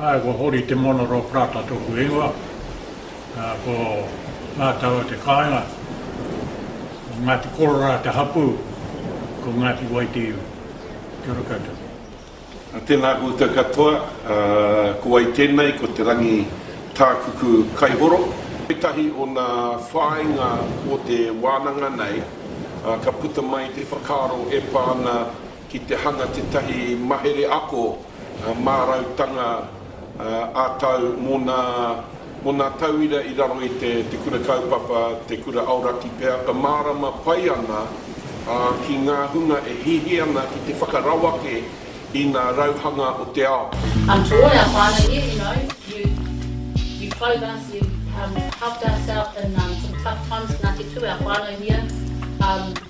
Ae, ko Hori Te Moana Roa Prata toku ingoa. Ko Nga Taua te kaenga. Ko Ngati Kororā te hapu. Ko Ngati Wai te iwi. Kia ora koutou. Tēnā koutou katoa, ko wai tēnei, ko Te Rangi Tākuku Kaihoro. Ētahi o ngā whāinga o te wānanga nei, ka puta mai te whakaaro e pā ana ki te hanga tētahi mahere ako mārautanga, ā-tau mō nā, mō nā tauira i raro i te, te kura kaupapa, te kura aoraki pea, e mārama pai ana, ā, ki ngā hunga e hihi ana ki te whakarawake i nā rauhanga o te ao. I'm Troy, I'm finally here, you know, you, you clothe us, you, um, helped us out in, um, some tough times, Ngāti Tū, our whānau here, um.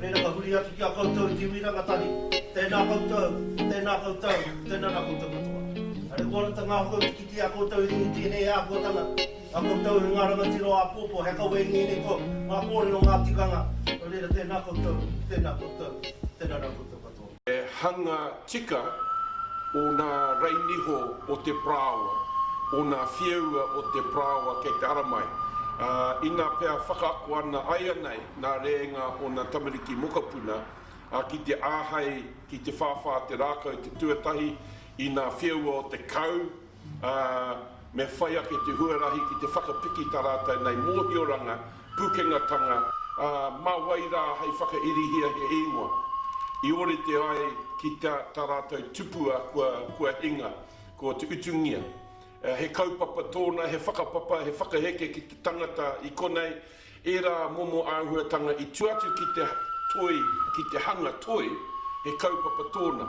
Reira ka huri atu ki a koutou i te iwi rangatahi, Tēnā koutou, tēnā koutou, tēnā rā koutou katoa. Engari kua ora te ngākau te kite i a koutou i rungu i tēnei āhuatanga, a koutou e ngā rangatira o āpōpō, he kawe i ngēnei kō, ngā kōrero, ngā tikanga, nō reira tēnā koutou, tēnā koutou, tēnā rā koutou katoa. He hanga tika ōna rainiho o te parāoa, ōna whieua o te parāoa kei te ara mai, ā, inā pea whakaako ana aianei nā rēnga ōna tamariki mokopuna, ā, ki te āhei, ki te whāwhā te rākau te tuatahi, inā whieua o te kau, ā, me whai ake te huarahi ki te whakapiki tā rātou nei mōhioranga, pukengatanga, ā, mā wai rā hei whakairihia he ingoa i ōrite ai ki tā rātou tupua kua hinga, ko te utungia. He kaupapa tōna, he whakapapa, he whakaheke ki te tangata i konei, ērā momo āhuatanga i tua atu ki te toi, ki te hanga toi, he kaupapa tōna.